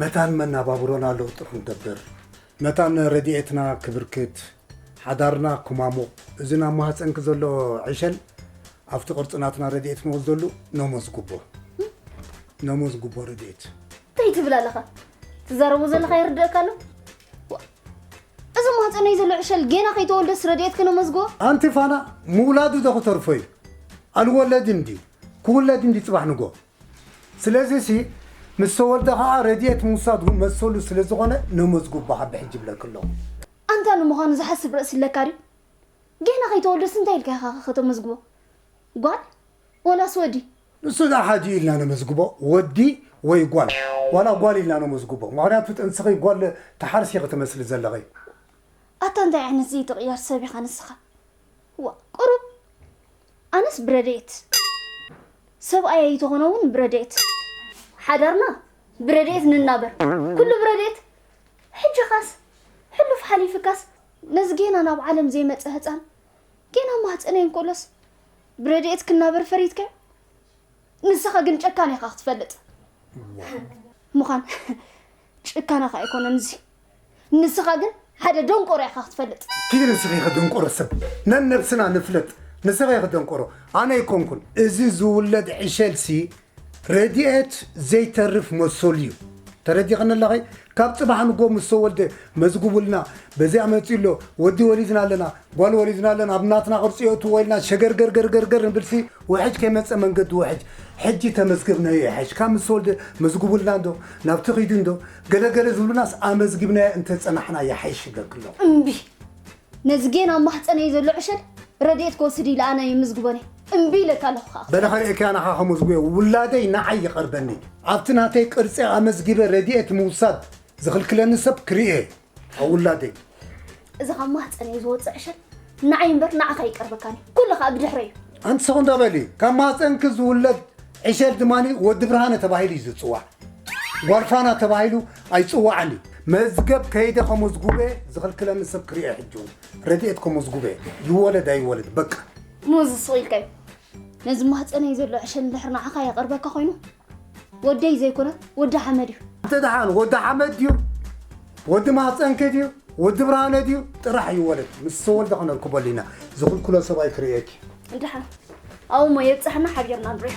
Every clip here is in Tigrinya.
መታን መናባብሮና ለውጢ ክንገብር፣ መታን ረዲኤትና ክብርክት፣ ሓዳርና ክማሙቕ፣ እዚ ናብ ማህጸንኪ ዘሎ ዕሸል ኣብቲ ቅርጺ ናትና ረዲኤት ንወስደሉ ነሞዝጉቦ። ነሞዝጉቦ ረዲኤት። እንታይ ትብል ኣለኻ? ትዛረቦ ዘለኻ ይርድእካ ኣሎ? እዚ ማህጸነይ ዘሎ ዕሸል ጌና ከይተወልደስ ረዲኤት ክነመዝግቦ? ኣንቲ ፋና ምውላዱ ዶ ክተርፎ እዩ? ኣልወለድን ድዩ? ክውለድ እንዲ ጽባሕ ንጎ። ስለዚሲ ምስ ተወልደ ከኣ ረዲኤት ምውሳድ መሰሉ ስለ ዝኾነ ነመዝጉብ በኻ ብሕጂ ይብለኪ ኣለኹ። ኣንታ ንምዃኑ ዝሓስብ ርእሲ ኣለካ ድዩ? ጌና ከይተወልደስ እንታይ ኢልካ ኢኻ ከ ከተመዝግቦ? ጓል ወላስ ወዲ? ንሱ ደኣ ሓዲኡ ኢልና ነመዝግቦ ወዲ ወይ ጓል ዋላ ጓል ኢልና ነመዝግቦ ምኽንያቱ ጥንስኺ ጓል ትሓርሲ ኢኺ ትመስሊ ዘለኺ። ኣታ እንታይ ዓይነት ዘይትቕየር ሰብ ኢኻ ንስኻ ዋእ ቁሩብ ኣነስ ብረድኤት ሰብኣይ ኣይተኾነ ውን ብረድኤት ሓዳርና ብረድኤት ንናበር ኩሉ ብረድኤት ሕጂኻስ ሕሉፍ ሓሊፍካስ ነዚ ጌና ናብ ዓለም ዘይመጸ ህጻን ጌና ማህጸነይ እንኮሎስ ብረድኤት ክናበር ፈሪትካዮ ንስኻ ግን ጨካን ኢኻ ክትፈልጥ ምዃን ጭካነኻ ኣይኮነን እዚ ንስኻ ግን ሓደ ደንቆሮ ኢኻ ክትፈልጥ። ኪድ ንስኺ ኢኺ ድንቆሮ ሰብ ነነብስና ንፍለጥ ንስኺ ኢኺ ደንቆሮ ኣነ ኣይኮንኩን። እዚ ዝውለድ ዕሸል ሲ ረዲኤት ዘይተርፍ መሰሉ እዩ ተረዲኽኒ ኣለኺ ካብ ጽባሕ ንጎ ምስ ተወልደ መዝግቡልና በዚኣ መጺኡ ኣሎ ወዲ ወሊድና ኣለና ጓል ወሊድና ኣለን ኣብ ናትና ቅርጺ የእትዎ ኢልና ሸገርገርገርገር ንብልሲ ውሕጅ ከይመጸ መንገዲ ውሕጅ ሕጂ ተመዝገብናዮ ይሕሽ ካብ ምስ ተወልደ መዝግቡልና እንዶ ናብቲ ኪዱ እንዶ ገለገለ ዝብሉናስ ኣመዝጊብናዮ እንተ ጸናሕና ይሓይሽ ይብለኪ ኣለኹ። እምቢ ነዝጌን ኣብ ማህጸነይ ዘሎ ዕሸል ረድኤት ክወስድ ኢለ ኣነ የመዝግቦን እየ እምቢ ኢለካ ኣለኹ ከኣ። በለ ከርእየኪ ኣነ ከኣ ከመዝግቦ ውላደይ ንዓይ ይቀርበኒ ኣብቲ ናተይ ቅርጺ ኣመዝጊበ ረድኤት ምውሳድ ዝኽልክለኒ ሰብ ክርእየ ካብ ውላደይ እዚ ካብ ማህፀነይ ዝወፅእ ዕሸል ንዓይ እምበር ንዓኻ ይቀርበካኒ ኩሉ ከዓ ብድሕረ እዩ ኣንቲ ሰኹን ተበሊ ካብ ማህፀንኪ ዝውለድ ዕሸል ድማ ወዲ ብርሃነ ተባሂሉ እዩ ዝፅዋዕ ጓልፋና ተባሂሉ ኣይፅዋዕን እዩ መዝገብ ከይደ ከመዝጉበ ዝኽልክለኒ ሰብ ክርኤ ሕጂ እውን ረድኤት ከመዝጉበ ይወለድ ኣይወለድ በቃ ሞዚ ስቕ ኢልካዮ ነዚ ማህፀነይ ዘሎ ዕሸል እንድሕር ንዓኻ የቐርበካ ኮይኑ ወደይ ዘይኮነ ወዲ ሓመድ እዩ። እንተ ደሓን ወዲ ሓመድ ድዩ ወዲ ማህፀንኪ ድዩ ወዲ ብርሃነ ድዩ ጥራሕ እዩ ወለድ ምስ ተወልደ ከነርክበሉ ኢና ዝኽልክሎ ሰብ ኣይክርእየኪ እንድሓ ኣብኡ እሞ የብፅሐና ሓቢርና ንሪኦ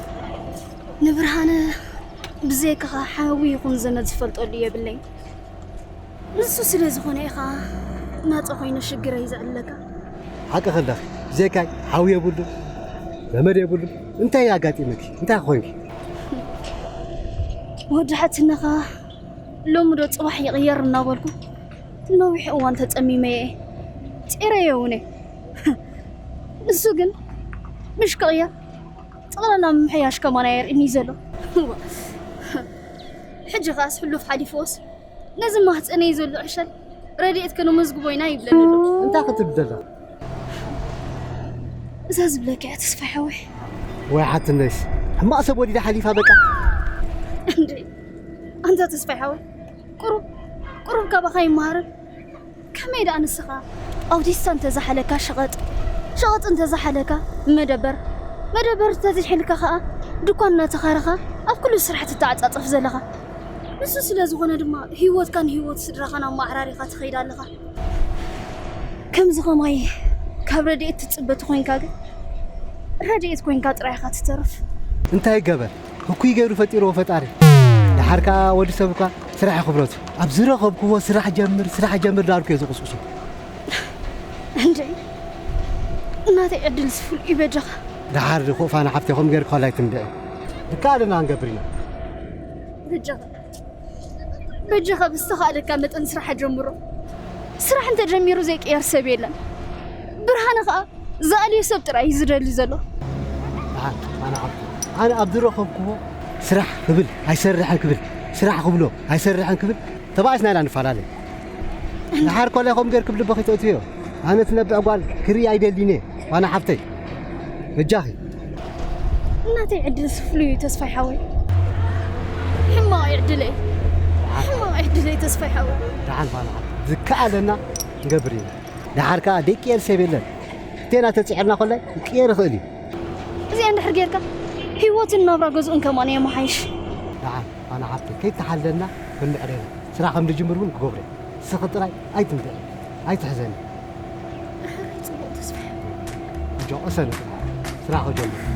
ንብርሃነ ብዘይካኻ ሓዊ ይኹን ዘመድ ዝፈልጠሉ የብለይ ንሱ ስለ ዝኾነ ኢኻ ናፀ ኮይኑ ሽግረይ ዘዕለካ ሓቂ ከለኺ ብዘይካይ ሓዊ የብሉ ዘመድ የብሉ እንታይ ኣጋጢመኪ እንታይ ኮይንኪ ወዲ ሓትነኻ ሎሚ ዶ ፅባሕ ይቕየር እናበልኩ ነዊሕ እዋን ተፀሚመ እየ ፂረየ እውን እየ ንሱ ግን ምሽ ክቕየር ጠቕላላ ምምሕያሽ ከማን ኣየርእንዩ ዘሎ። እወ ሕጂ ኸኣስ ሕሉፍ ሓሊፍዎስ ነዚ ማህጸነይ ዘሎ ዕሸል ረድኤት ከነመዝግቦ ኢና ይብለኒ ኣሎ። እንታይ ክትብል ደለኻ? እዛ ዝብለካ እያ ተስፋይ ሓወይ። ወይ ሓትነሽ ሕማቕ ሰብ ወሊዳ ሓሊፋ በቃ። እንዴ ኣንታ ተስፋይ ሓወይ ቁሩብ ቁሩብ ካባኻ ይመሃርን ከመይ ደኣ ንስኻ ኣውቲስታ እንተ ዝሓለካ ሸቐጥ፣ ሸቐጥ እንተ ዝሓለካ መደበር፣ መደበር እንተ ዝሒልካ ከኣ ድኳን እናተኻረኻ ኣብ ኩሉ ስራሕ ትተዓጻጸፍ ዘለኻ። ንሱ ስለ ዝኾነ ድማ ህይወትካን ህይወት ስድራኻን ኣመዓራሪኻ ትኸይድ ኣለኻ። ከምዚ ከማይ ካብ ረድኤት ትጽበ ተኾይንካ ግን ረድኤት ኮይንካ ጥራይ ኢኻ ትተርፍ። እንታይ ይገበር ህኩይ ገይሩ ፈጢርዎ ፈጣሪ ደሓር ከኣ ወዲ ሰብ እኳ ስራሕ እዩ ክብረቱ። ኣብ ዝረኸብክዎ ስራሕ ጀምር ስራሕ ጀምር ዳርኩ እየ ዝቑስቑሶ። እንድዒ ናተይ ዕድልስ ፍሉይ እዩ በጃኻ። ደሓር ድኹእ ፋና ሓብተይ ከምኡ ገይርኪ ከላይ ትንብዒ። ድከኣለና ክንገብር ኢና። በጃኻ በጃኻ ብዝተኻእለካ መጠን ስራሕ ኣጀምሮ። ስራሕ እንተጀሚሩ ዘይቅየር ሰብ የለን። ብርሃነ ከዓ ዝኣልዮ ሰብ ጥራይ እዩ ዝደሊ ዘሎ። ብርሃን ኣነ ዓብዱ ኣነ ኣብ ዝረኸብክዎ ስራሕ ክብል ኣይሰርሕን ክብል ስራሕ ክብሎ ኣይሰርሕን ክብል ተባኢስና ኢና ንፈላለ ድሓር ኮለ ከም ገርክብ ልብኺ ተእትዮ ኣነ ትነብዕ ጓል ክርኢ ኣይደልይን እየ ዋና ሓፍተይ በጃኺ እናተይ ዕድል ስፍሉ እዩ ተስፋይ ሓወይ ሕማቕ ዕድለይ ሕማቕ ዕድለይ ተስፋይ ሓወይ ድሓን ዋና ሓፍተይ ዝከኣለና ንገብር ኢና ድሓር ከዓ ደቂ ኤል ሰብ የለን እቴና ተፅዒርና ኮለ ክቅየር ይኽእል እዩ እዚኣ እንድሕር ጌርካ ህይወትን ናብራ ገዝኡን ከማን የመሓይሽ ድሓን ኣነ ሓፍተይ ከይተሓለልና በምዕሬና ስራሕ ከም ድጅምር እውን ክገብሮ እየ ንስኺ ጥራይ ኣይትንብዒ ኣይትሕዘኒ ደሓራይ ፅቡቕ ተስፋ እንጆ ቅሰኒ ፍርሓተይ ስራሕ ክጀምር እየ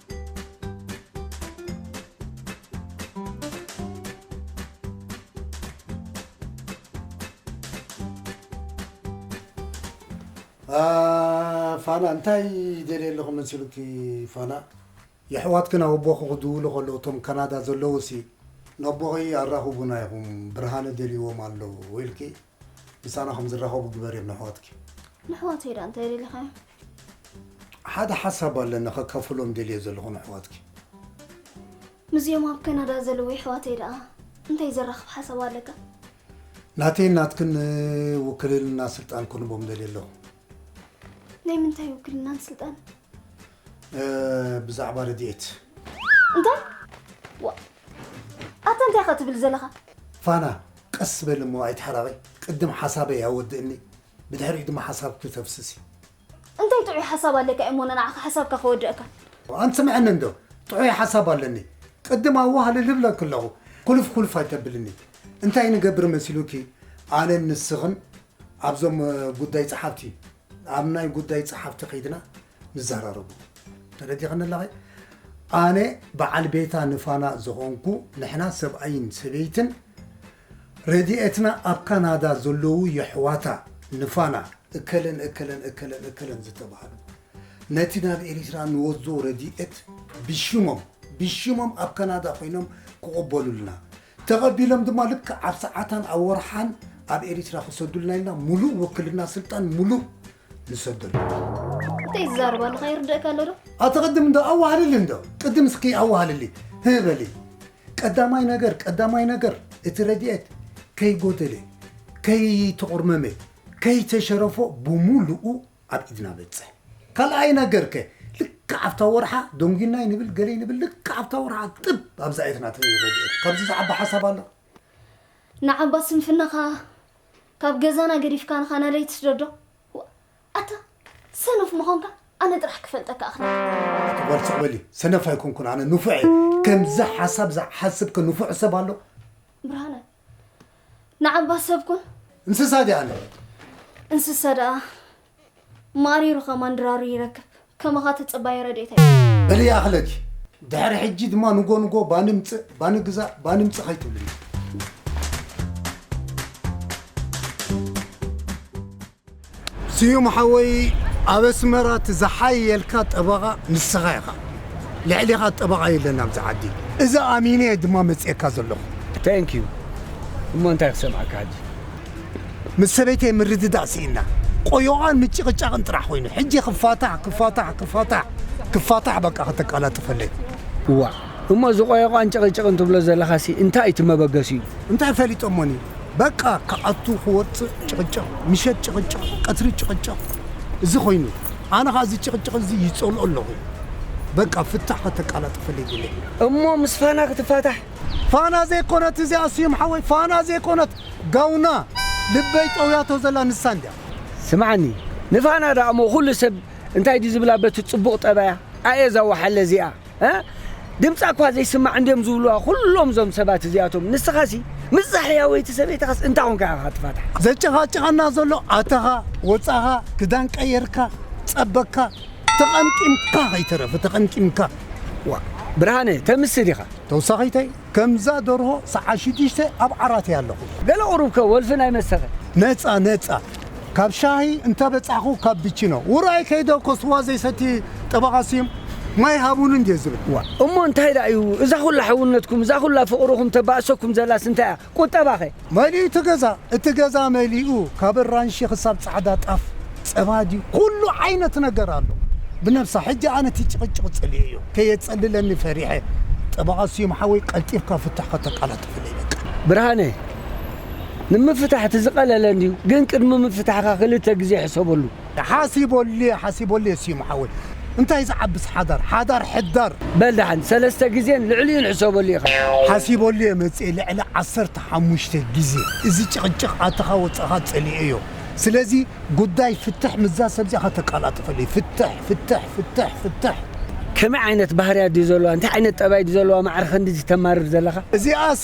ፋና እንታይ ደልየ ኣለኹ መሲሉኪ ፋና የሕዋትኪ ናብ ኣቦኺ ክድውሉ ከለዉ እቶም ካናዳ ዘለዉ ሲ ነቦኺ ኣራኽቡና ኢኹም ብርሃነ ደልይዎም ኣሎ ኢልኪ ምሳና ከም ዝራኸቡ ግበርዮም ነሕዋትኪ ንሕዋተይ ዳ እንታይ ደሊኻዮ ሓደ ሓሳብ ኣለኒ ከካፍሎም ደልየ ዘለኹ ንኣሕዋትኪ። ምስዚኦም ኣብ ከናዳ ዘለዉ የሕዋተይ ደኣ እንታይ ዘራኽብ ሓሳብ ኣለካ? ናተይን ናትክን ውክልልና ስልጣን ክንቦም ደልየ ኣለኹ። ናይ ምንታይ ውክልናን ስልጣን? ብዛዕባ ረድኤት። እንታይ ዋ ኣታ እንታይ ኢኻ ትብል ዘለኻ? ፋና ቀስ በሊ እሞ ኣይትሓራቐይ ቅድም ሓሳበይ ኣወድእኒ። ብድሕሪኡ ድማ ሓሳብ ክተፍስስ እዩ። እንታይ ጥዑይ ሓሳብ ኣለካ ኤሞና ንዓኻ ሓሳብካ ክወድእካ። ኣንት ስምዐኒ እንዶ ጥዑይ ሓሳብ ኣለኒ ቅድም ኣዋህልል ልብለኪ ኣለኹ ኩልፍ ኩልፍ ኣይተብልኒ እንታይ ንገብር መሲሉኪ ኣነን ንስኽን ኣብዞም ጉዳይ ጸሓፍቲ ኣብ ናይ ጉዳይ ጸሓፍቲ ከይድና ንዘራረቡ ተረዲኽኒ ኣለኺ ኣነ በዓል ቤታ ንፋና ዝኾንኩ ንሕና ሰብኣይን ሰበይትን ረዲኤትና ኣብ ካናዳ ዘለዉ የሕዋታ ንፋና እከለን እከለን እከለን እከለን ዝተባህሉ ነቲ ናብ ኤሪትራ ንወስዶ ረዲኤት ብሽሞም ብሽሞም ኣብ ካናዳ ኮይኖም ክቕበሉልና ተቐቢሎም ድማ ልክዕ ኣብ ሰዓታን ኣብ ወርሓን ኣብ ኤሪትራ ክሰዱልና ኢልና ሙሉእ ውክልና ስልጣን ሙሉእ ንሰደሉ። እንታይ ዝዛረብ ኣለኻ ይርድእካ ኣሎ ዶ? ኣተቐድም እንዶ ኣዋህልሊ እንዶ ቅድም እስኪ ኣዋህልሊ ህበሊ ቀዳማይ ነገር ቀዳማይ ነገር እቲ ረድኤት ከይጎደለ ከይተቑርመመ ከይተሸረፎ ብሙሉኡ ኣብ ኢድና በፅሕ ካልኣይ ነገር ከ ልክዕ ኣብታ ወርሓ ደንጒናይ ንብል ገለይ ንብል ልክዕ ኣብታ ወርሓ ጥብ ኣብዛ ኢትና ረድኤት ካብዚ ዝዓቢ ሓሳብ ኣሎ ንዓባ ስንፍናኻ ካብ ገዛና ገዲፍካ ንኻ ናደይ ትስደዶ ኣታ ሰነፍ ምዃንካ ኣነ ጥራሕ ክፈልጠካ እኽእል። ኣቲ ጓል ስቕ በሊ ሰነፍ ኣይኮንኩን ኣነ ንፉዕ እየ ከምዚ ሓሳብ ዝሓስብ ከ ንፉዕ ሰብ ኣሎ ብርሃነ ንዓባ ሰብ ኩን እንስሳ ድያ ኣነ እንስሳ ደኣ ማሪሩ ከማን ድራሩ ይረክብ ከማኻ ትጽባየ ረድኤተይ። በልየ ኣኽለኪ ድሕሪ ሕጂ ድማ ንጎ ንጎ ባኒ ምጽእ ባኒ ግዛእ ባኒ ምጽእ ከይትብልኒ። ስዩም ሓወይ ኣብ ኣስመራ እቲ ዝሓየልካ ጠበቓ ንስኻ ኢኻ ልዕሌኻ ጠበቓ የለን ኣብዚ ዓዲ እዚ ኣሚነ እየ ድማ መፅኤካ ዘለኹ። Thank you እሞ እንታይ ክሰምዓካ ሕጂ። ምስ ሰበይተይ ምርድዳእ ሲኢንና ቆዮቛን ምጭቕጫቕን ጥራሕ ኮይኑ ሕጂ ክፋታሕ ክፋታሕ ክፋታሕ ክፋታሕ በቃ ከተቃላጥፈለይ። እዋእ እሞ እዚ ቆዮቛን ጭቕጭቕን ትብሎ ዘለኻሲ እንታይ እዩ እቲ መበገሲኡ? እንታይ ፈሊጦሞኒ በቃ ክኣቱ ክወጽእ ጭቕጭቕ ምሸት ጭቕጭቕ ቀትሪ ጭቕጭቕ እዚ ኮይኑ ኣነ ከኣ እዚ ጭቕጭቕ እዚ ይጸልኦ ኣለኹ በቃ ፍታሕ ከተቃላጥፈለይ ይደሊ። እሞ ምስ ፋና ክትፋታሕ? ፋና ዘይኮነት እዚኣ ስዩም ሓወይ ፋና ዘይኮነት። ጋውና ልበይ ጠውያቶ ዘላ ንሳ እንድያ። ስምዓኒ ንፋና ድኣ እሞ ኩሉ ሰብ እንታይ ድዩ ዝብላ በቲ ጽቡቅ ጠባያ ኣየ እዛ ወሓለ እዚኣ እህ ድምጻ እኳ ዘይስማዕ እንድዮም ዝብልዋ ኩሎም እዞም ሰባት እዚኣቶም ንስኻሲ ምስዛ ሕያወይቲ ሰበይትኻስ እንታይ ኮንካ ኢኻ ትፋታሕ። ዘጨቃጭቀና ዘሎ ኣተኻ ወጻኻ ክዳን ቀየርካ ጸበካ ተቀምቂምካ ከይተረፈ ተቀምቂምካ ዋእ። ብርሃነ ተምስ ዲኻ? ተውሳኺተይ ከምዛ ደርሆ ሰዓት ሽዱሽተ ኣብ ዓራት እየ ኣለኹ። ገለ ቁሩብ ከ ወልፊ ናይ መሰከ? ነጻ ነጻ ካብ ሻሂ እንተ በጻሕኩ ካፒቺኖ ውራይ ከይደ እኮ ስዋ ዘይሰቲ ጠበቓ ስዩም ማይ ሃቡኒ እንድየ ዝብል እዋእ። እሞ እንታይ ደኣ እዩ እዛ ኩላ ሕውነትኩም እዛ ኩላ ፍቕርኹም ተባእሰኩም ዘላስ እንታይ እያ? ቁጠባ ከ? መሊኡ እቲ ገዛ እቲ ገዛ መሊኡ ካብ ኣራንሺ ክሳብ ጻዕዳ ጣፍ ጸባ ድዩ ኩሉ ዓይነት ነገር ኣሎ ብነብሳ ሕጂ ኣነ እቲ ጭቅጭቅ ጽሊኤዮ ከየጸልለኒ ፈሪሐ ጠበቃ ስዩም ሓወይ ቀልጢፍካ ፍትሕ ከተቃላጥፈለይ በቃ። ብርሃነ ንምፍታሕ እቲ ዝቀለለ እንድዩ ግን ቅድሚ ምፍታሕካ ክልተ ግዜ ሕሰበሉ። ሓሲበሉየ ሓሲበሉየ ሲሙ ሓወይ እንታይ ዝዓብስ ሓዳር ሓዳር ሕዳር። በል ደሓን ሰለስተ ግዜን ልዕሊኡን ሕሰበሉ ኢኻ። ሓሲበሉየ መጽየ ልዕሊ ዓሰርተ ሓሙሽተ ግዜ እዚ ጭቕጭቕ ኣተኻ ወጻኻ ጸሊኤዮ ስለዚ ጉዳይ ፍትሕ ምስዛ ሰብዚኣ ከተቃላጥፈለይ ፍትሕ ፍትሕ ፍትሕ ፍትሕ። ከመይ ዓይነት ባህርያት ድዩ ዘለዋ እንታይ ዓይነት ጠባይ ድዩ ዘለዋ ማዕረ ክንድዚ ተማርር ዘለኻ። እዚኣሲ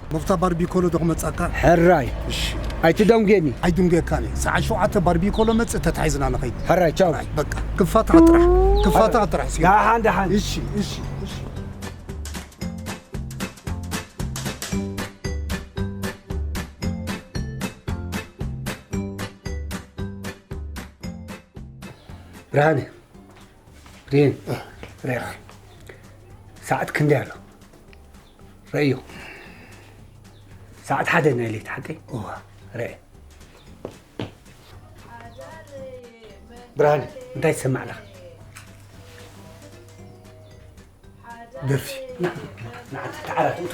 ጐፍታ ባርቢኮሎ ዶ ክመጽኣካ? ሕራይ እሺ ኣይትደንጉየኒ። ኣይድንጉየካን እየ ሰዓት ሸውዓተ ባርቢኮሎ መጽእ ተታሒዝና ንኸይድ። ሕራይ ቻው። ሕራይ በቃ ክፋትካ ጥራሕ ክፋትካ ጥራሕ ሲኦል። ደሓን ደሓን። እሺ እሺ እሺ። ብርሃነ ብሬን ሬኻ ሰዓት ክንደይ ኣሎ? ረእዮ ሰዓት ሓደ ናይ ለይቲ ሓቀይ እዋ ረአ ብርሃን እንታይ ትሰማዕ ኣለኻ ደርፊ ንዓቲ ተዓራት እቶ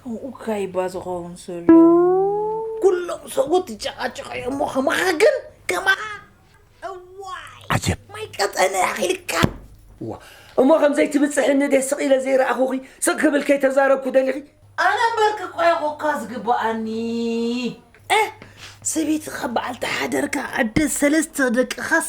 ከምኡ ካይባ ዝኸውን ዘሎ ኩሎም ሰብኡት ይጨቃጨቁ እዮም እሞ ከማኻ ግን ከማኻ እዋይ ዓጀብ ማይ ቀጠነ ኣኺልካ እዋ እሞ ከም ዘይትብጽሕኒ ድየ ስቕ ኢለ ዘይረኣኹኺ ስቕ ክብል ከይተዛረብኩ ደሊኺ ኣነ እምበርክ ቆያኹካ ዝግብኣኒ እ ሰበይትኻ በዓልቲ ሓደርካ ዕደት ሰለስተ ደቅኻስ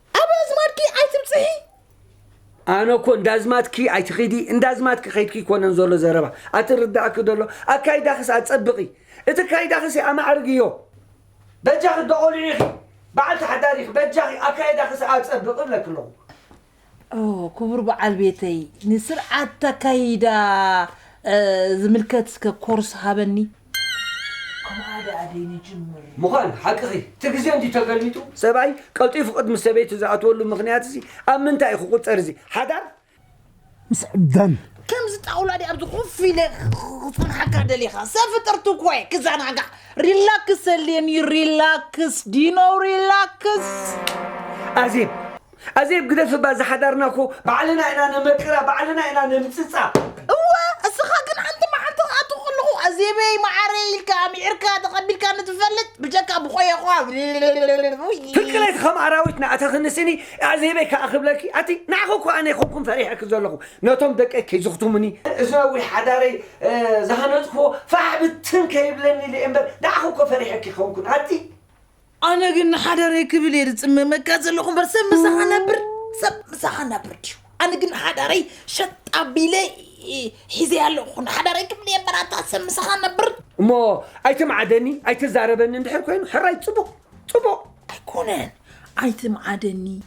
ኣብ ኣዝማድኪ ኣይትብጽሒ። ኣነ እኮ እንዳዝማትኪ ኣይትኺዲ እንዳዝማትኪ ከይድኪ ይኮነን ዘሎ ዘረባ ኣትርዳእኪ ደሎ ኣካይዳኽስ ኣጸብቒ እቲ ካይዳኽስ ኣማዕርግዮ በጃኺ ዶ ቆልዑ ኢኺ በዓልቲ ሓዳር ኢኺ በጃኺ ኣካይዳኽስ ኣጸብቒ እብለኪ ኣለኹ ኦ ክቡር በዓል ቤተይ ንስርዓት ኣካይዳ ዝምልከት እስከ ኮርስ ሃበኒ ከምኣ ደኣ ደይ ንጅምር። ምዃን ሓቅኺ እቲ ግዜ እንድዩ ተገሊጡ። ሰብኣይ ቀልጢፉ ቅድሚ ሰበይቱ ዝኣትወሉ ምኽንያት እዚ ኣብ ምንታይ እዩ ክቑጸር እዚ ሓዳር ምስ ዕብዳን። ከምዚ ጣውላ ድየ ኣብዚ ኮፍ ኢለ ክጸንሓካ ደሊኻ ሰብ ፍጥርቲ እኮ እየ ክዛናጋዕ ሪላክስ ዘድልየኒ ሪላክስ ድዩ ኖው ሪላክስ ኣዜብ ኣዜብ ግደፊ እባ እዛ ሓዳርና እኮ ባዕልና ኢና ነመቅራ ባዕልና ኢና ነምጽጻ። እወ እስኻ ግን ሓንቲ መዓልቲ ክኣቱ ከለኹ ኣዜበይ መዓረይ ኢልካ ኣምዒርካ ተቐቢልካኒ ትፈልጥ ብጀካ ብኾየዃ ፍቅረይ ከም ኣራዊት ንኣተኽኒ ስኒ ኣዕዜበይ ከኣ ክብለኪ ኣቲ ንዓኺ እኮ ኣነ ኣይኮንኩን ፈሪሐኪ ዘለኹ ነቶም ደቀይ ከይዝኽቱሙኒ እዚ ነዊሕ ሓዳረይ ዝሃነጽክዎ ፋሕ ብትን ከይብለኒ ኢለ እየ እምበር ንዓኺ እኮ ፈሪሐኪ ኣይኮንኩን ኣቲ ኣነ ግን ንሓዳረይ ክብል እየ ዝፅመመካ ዘለኹ እምበር ሰብ ምሳኻ ነብር ሰብ ምሳኻ ነብር ድዩ ኣነ ግን ሓዳረይ ሸጥ ኣቢለ ሒዘ ኣለኹ ንሓዳረይ ክብል እየ በራታ ሰብ ምሳኻ ነብር እሞ ኣይትምዓደኒ ኣይትዛረበኒ እንድሕር ኮይኑ ሕራይ ፅቡቕ ፅቡቕ ኣይኮነን ኣይትምዓደኒ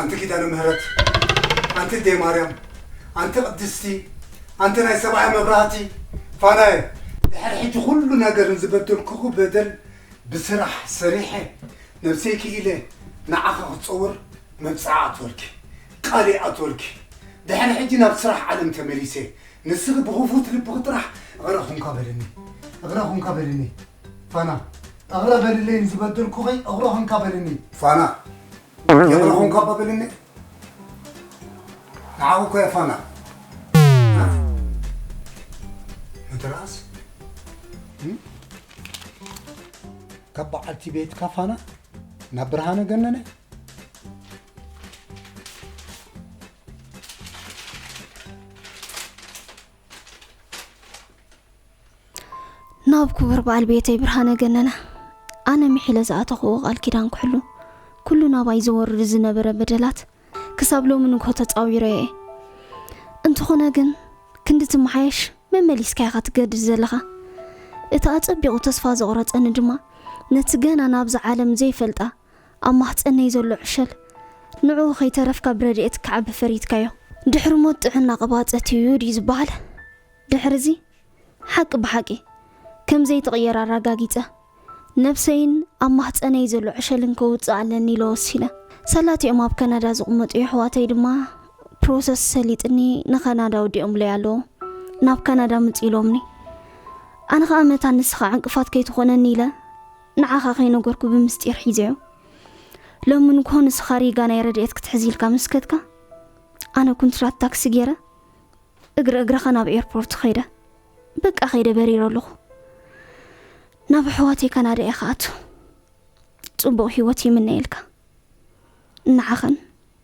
ኣንቲ ኪዳነ ምህረት ኣንቲ እዴ ማርያም ኣንቲ ቅድስቲ ኣንቲ ናይ ሰብኣይ መብራህቲ ፋናየ ድሕሪ ሕጂ ኩሉ ነገር ንዝበደልኩኹ በደል ብስራሕ ሰሪሐ ነብሰይ ክኢለ ንዓኺ ክፀውር መብፅዓ ኣትወልኪ ቃል ይኣትወልኪ ድሕሪ ሕጂ ናብ ስራሕ ዓለም ተመሊሰ ንስኺ ብኽፉት ልብኺ ጥራሕ እቕረ ኹንካ በልኒ እቕረ ኹንካ በልኒ ፋና፣ እቕረ በልለይ ንዝበደልኩኺ እቕረ ኹንካ በልኒ። ፋና፣ ይቕረ ኹንካ እባ በልኒ። ንዓኺ እኮ'የ ፋና። መተርኣስ ካብ በዓልቲ ቤትካ ፋና ናብ ብርሃነ ገነነ ናብ ክቡር በዓል ቤተይ ብርሃነ ገነነ ኣነ ምሒለ ዝኣተኽዎ ቃል ኪዳን ክሕሉ ኩሉ ናባይ ዝወርድ ዝነበረ በደላት ክሳብ ሎሚ ንግሆ ተፃዊረ እየ እንተኾነ ግን ክንዲ ትመሓየሽ መመሊስካ ኢኻ ትገድድ ዘለኻ እቲ ኣጸቢቑ ተስፋ ዘቑረጸኒ ድማ ነቲ ገና ናብዚ ዓለም ዘይፈልጣ ኣብ ማህጸነይ ዘሎ ዕሸል ንዕኡ ከይተረፍካ ብረድኤት ክዓቢ ፈሪድካዮ። ድሕሪ ሞት ጥዕና ቅባጸት እዩ ድዩ ዝበሃል? ድሕሪዚ ሓቂ ብሓቂ ከም ዘይትቕየር ኣራጋጊጸ፣ ነብሰይን ኣብ ማህጸነይ ዘሎ ዕሸልን ከውጽእ ኣለኒ ኢለ ወሲነ። ሰላቲኦም ኣብ ከናዳ ዝቕመጡ የሕዋተይ ድማ ፕሮሰስ ሰሊጥኒ ንከናዳ ወዲኦምለይ ኣለዉ። ናብ ካናዳ ምጽ ኢሎምኒ። ኣነ ከኣ መታን ንስኻ ዕንቅፋት ከይትኾነኒ ኢለ፣ ንዓኻ ከይነገርኩ ብምስጢር ሒዘዮ ሎሚ ንግሆ ንስኻ ሪጋ ናይ ረድኤት ክትሕዝ ኢልካ ምስ ከድካ ኣነ ኩንትራት ታክሲ ገይረ እግሪ እግረኻ ናብ ኤርፖርት ኸይደ በቃ ኸይደ በሪረ ኣለኹ ናብ ኣሕዋተይ ካናዳ እየ ክኣቱ ጽቡቕ ህይወት ይምነየልካ ንዓኸን